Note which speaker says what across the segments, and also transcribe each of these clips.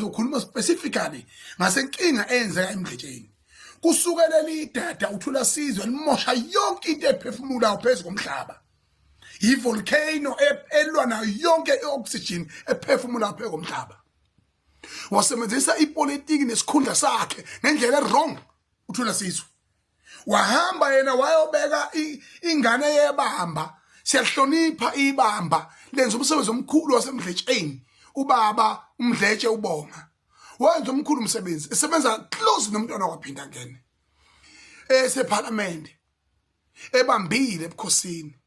Speaker 1: ukhuluma specifically ngasenkinga eyenzeka emgqetsheni kusukela lidada uthula sizwe limosha yonke into ephefumulayo phezu komhlaba yivolcano e-, elwa nayo yonke i-oxygen ephefumulayo phezu komhlaba wasebenzisa ipolitiki nesikhundla sakhe ngendlela erong uthula sizwe wahamba yena wayobeka ingane yebamba siyahlonipha ibamba lenza umsebenzi omkhulu wasemdletsheni ubaba umdletshe ubonga wenza omkhulu umsebenzi esebenza close nomntwana waphinda ngene esephalamende ebambile ebukhosini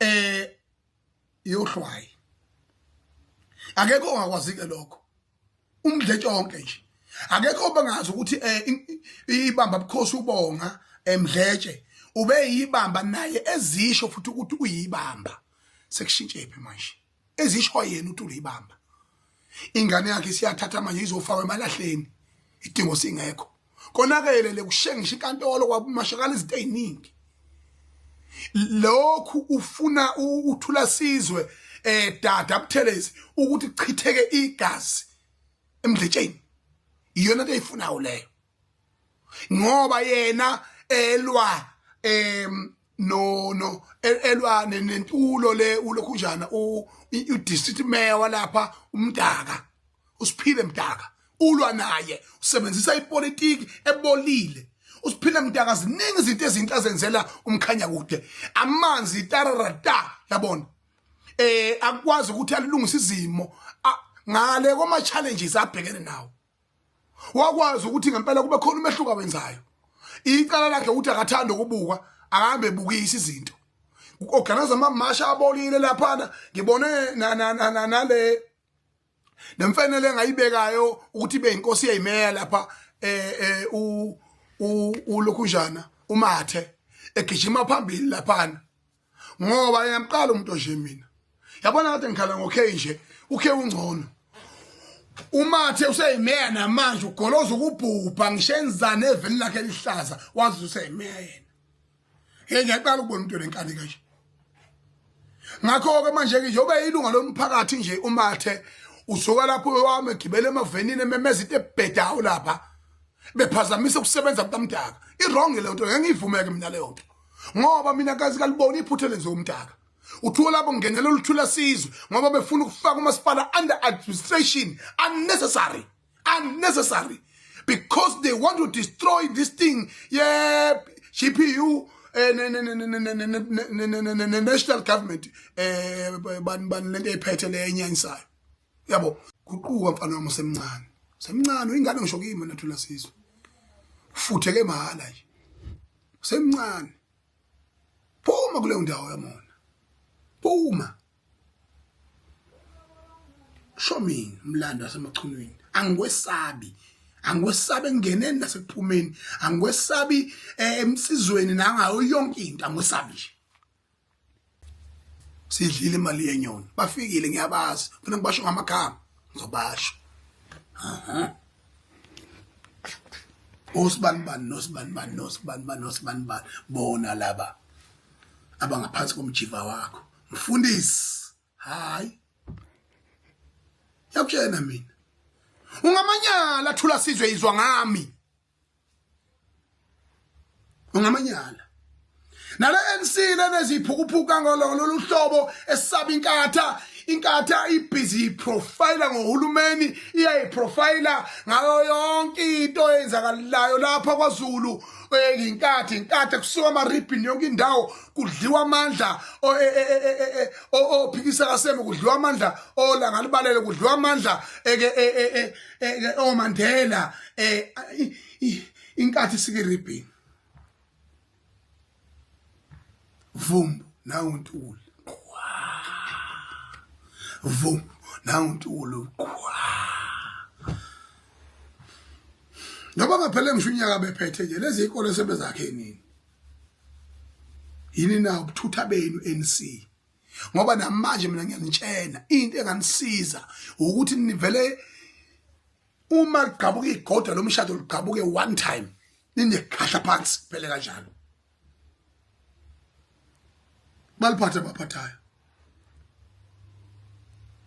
Speaker 1: eh yohlwayi akekho ongakwazi ke lokho umdletshe onke nje akekho bangazi ukuthi eh, ibamba bukhosi ubonga emdletshe eh, ube yibamba naye ezisho futhi ukuthi uyibamba sekushintshephi manje ezisho yena uTulo ibamba ingane yakhe siyathatha manje izofakwa emalahleni idingo singekho konakele lekushengisha inkantolo kwabumashakala izinto eziningi lokhu ufuna uthula sizwe eh dada abuthelezi ukuthi chitheke igazi emdletsheni iyona into eyifunayo leyo ngoba yena elwa em no no elwane nentulo le ulokhu njana u district mayor walapha umdaka usiphile mdaka ulwa naye usebenzisa ipolitiki ebolile usiphile mdaka ziningi izinto ezinhle azenzela umkhanya kude amanzi tararata yabona eh akwazi ukuthi alungise izimo ngale koma challenges abhekene nawo wakwazi ukuthi ngempela kube khona umehluko awenzayo icala lakhe ukuthi akathanda ukubukwa ahambe ebukisa izinto organize amamasha abolile laphana ngibone nale nemfanele engayibekayo ukuthi ibe inkosi yeyimeya lapha eh, eh u ulokhunjana umathe egijima phambili laphana ngoba ngiyamqala umuntu onje mina yabona kade ngikhala ngo-k nje ukhe ungcono umathe useyimeya namanje ugoloza ukubhubha ngisho enzane eveni lakhe elihlaza wazi useyimeya yena ye ngiyaqala ukubona umuntu onenkani kanje ngakho-ke manje-ke nje ube yilunga lomphakathi nje umathe usuka lapho wami egibele emavenini ememeza into ebhedawo lapha bephazamisa ukusebenza kukamdaka i-wrong leyo nto ngengiyivumeke mina leyo nto ngoba mina kazi kalibona iphutha lenze umntaka uthiwa labo ngenela oluthula sizwe ngoba befuna ukufaka umasipala under administration unnecessary unnecessary because they want to destroy this thing yeah GPU national government eh bani bani lento ephethe le enyanyisayo yabo guquka mfana wami usemncane semncane uyingane ngisho kimi wena thula sizwe ufutheke mahala nje semncane phuma kuleyo ndawo yamona phuma show me umlando wasemachunwini angikwesabi angikwesabi engeneni nasekuphumeni angikwesabi eh, emsizweni nangayo yonke into angikwesabi nje sidlile imali yenyoni bafikile ngiyabazi funa ngibasho ngamakhama ngizobasho osibanibani nosibanibani nosibanibani nosibanibani bona laba abangaphansi komjiva wakho mfundisi hayi yakutshena mina ungamanyala thula sizwe izwa ngami ungamanyala nale NC leneziphukuphuka ngololo luhlobo esaba inkatha inkatha ibhizi iprofile ngohulumeni iyayiprofile ngayo yonke into eyenzakalayo lapha kwaZulu inkathi inkathi kusuka amaribhini yonke indawo kudliwa amandla ophikisa kaseme kudliwa amandla olanga libalele kudliwa amandla eh, oMandela eh inkathi sikiribhini vumbu nawe untuli vumbu nawe untuli noma ngaphele ngisho unyaka bephethe nje lezi ikole sebezakhe nini yini na ubuthutha benu NC ngoba namanje mina ngiyanitshena into enganisiza ukuthi nivele uma ligqabuka igoda lomshado ligqabuke one time ninekhahla phansi phele kanjalo baliphatha baphathayo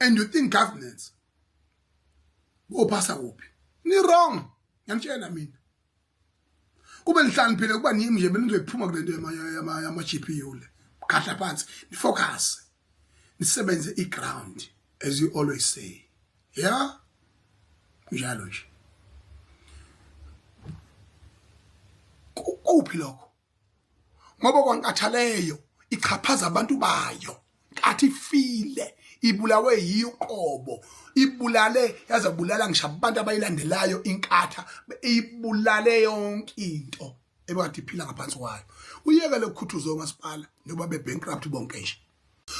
Speaker 1: and you think governance bophasa kuphi ni wrong ngiyamtshela mina kube nihlaniphile kuba nimi nje benizoyiphuma kule nto yama-gpu le khahla phansi nifocuse nisebenze i-ground as you always say ya yeah? njalo nje kuphi lokho ngoba kwaNkathaleyo ichaphaza abantu bayo kathi file ibulawe yiyo uqobo ibulale yaze bulala ngisho abantu abayilandelayo inkatha ibulale yonke into ebakade iphila ngaphansi kwayo uyeke lokukhuthuza umasipala njengoba be-bankrupt bonke nje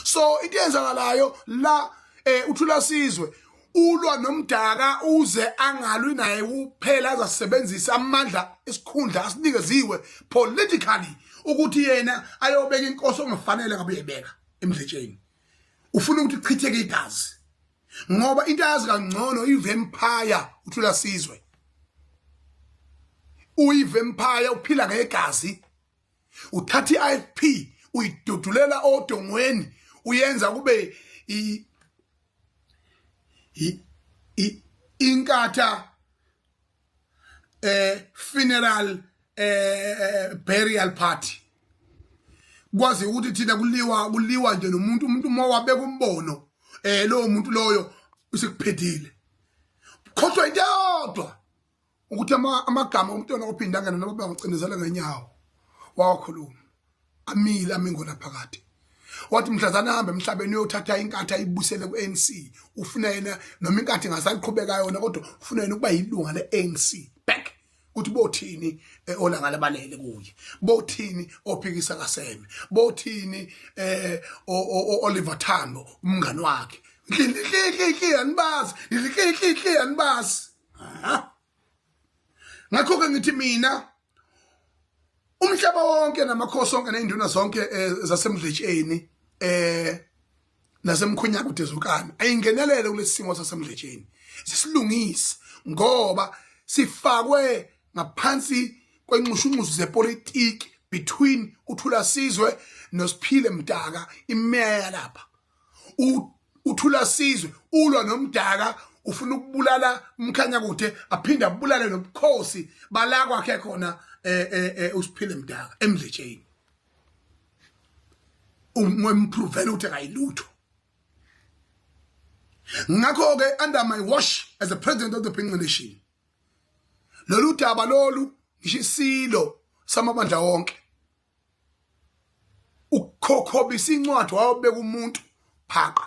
Speaker 1: so into yenzakalayo la eh uthula sizwe ulwa nomdaka uze angalwi naye kuphela azasebenzisa amandla isikhundla asinikeziwe politically ukuthi yena ayobeka inkosi ongafanele ngabe uyebeka emdletsheni ufuna ukuthi kuchitheke igazi ngoba into ayazi kangcono ivampire uthula sizwe uyivampire uphila ngegazi uthatha i-ifp uyidudulela odongweni uyenza kube inkatha eh funeral eh burial party kwazi ukuthi thina kuliwa kuliwa nje nomuntu umuntu uma wabeka umbono eh lowo muntu loyo usekuphethile khohlwa into yodwa ukuthi amagama omntwana ophinda ngena noma bangicindezela ngenyawo wawakhuluma amile amingona phakathi wathi mhlazana ahambe emhlabeni uyothatha inkathi ayibusele ku-anc ufuna yena noma inkathi ngasaliqhubeka yona kodwa ufuna yena ukuba yilunga le-anc back ukuthi bothini eh, olanga labalele kuye bothini ophikisa kaseme bothini eh Oliver Thando umngani wakhe nhlihlihlihli anibazi nhlihlihlihli anibazi ngakho ke ngithi mina umhlaba wonke namakhosi onke nezinduna zonke eh, zasemdletsheni eh nasemkhonyaku dezukana ayingenelele kulesimo sasemdletsheni sisilungise ngoba sifakwe ngaphansi kwenxushunxusu zepolitiki between uthula sizwe nosiphile mdaka imeya lapha uthula sizwe ulwa nomdaka ufuna ukubulala umkhanya kude aphinde abulale nobukhosi bala kwakhe khona eh, eh, eh, usiphile mdaka emdletsheni umpruvele ukuthi akayilutho ngakho-ke under my wash as a president of the pinga nation lolu daba lolu ngisho isilo samabandla wonke ukukhokhobisa incwadi wayobeka umuntu phaqa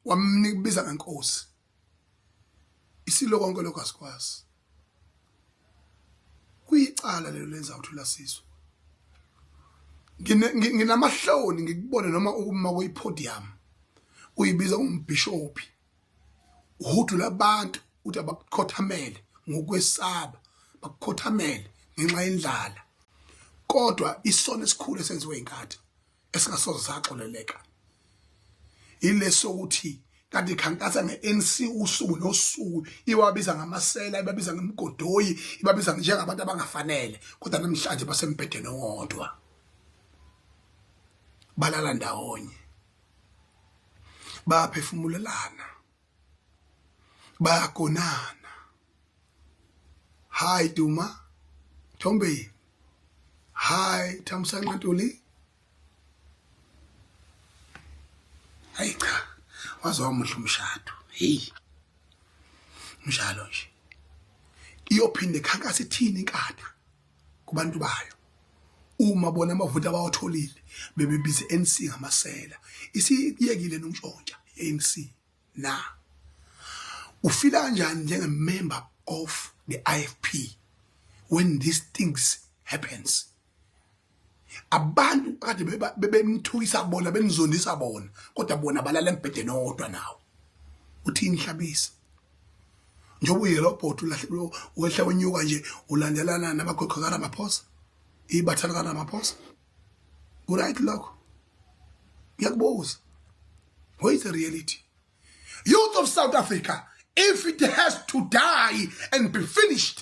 Speaker 1: wamnibiza ngenkosi isilo konke lokho asikwazi kuyicala lelo lenza ukuthi ulasizwe nginamahloni ngikubone noma ukuma kuyipodium uyibiza umbhishophi uhudula abantu ukuthi abakukhothamele ngokwesaba bakukhothamele ngenxa yendlala kodwa isono esikhulu esenziwe inkathi esingasoze saxoleleka ileso ukuthi kanti ikhankasa nge-ANC usuku nosuku iwabiza ngamasela ibabiza ngemgodoyi ibabiza njengabantu abangafanele kodwa namhlanje basembhedeni owodwa balala ndawonye bayaphefumulelana bayagonana hi duma thombe hi thamsanqa ntuli hayi cha waze wamuhle umshado hey mshalo nje iyophinde khankasa ithini inkatha kubantu bayo uma bona amavoti abawatholile bebebiza ANC ngamasela isiyekile nontshontsha ANC na ufila kanjani njenge member of the IFP when these things happens abantu kade bebemthukisa bona bemzondisa bona kodwa bona balala embhedeni owodwa nawo uthini hlabisa njengoba uyela ubhoti ulahlekelwe wehla unyuka nje ulandelana namagoqo karamaphosa ibatha likaramaphosa kuright lokho ngiyakubuza what is the reality youth of south africa if it has to die and be finished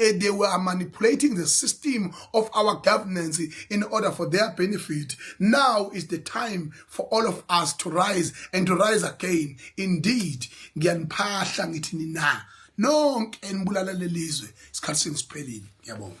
Speaker 1: eh, they were manipulating the system of our governance in order for their benefit. Now is the time for all of us to rise and to rise again. Indeed, ngiyaniphahla ngithi nina nonke enibulala lelizwe isikhathi sengisipheli ngiyabonga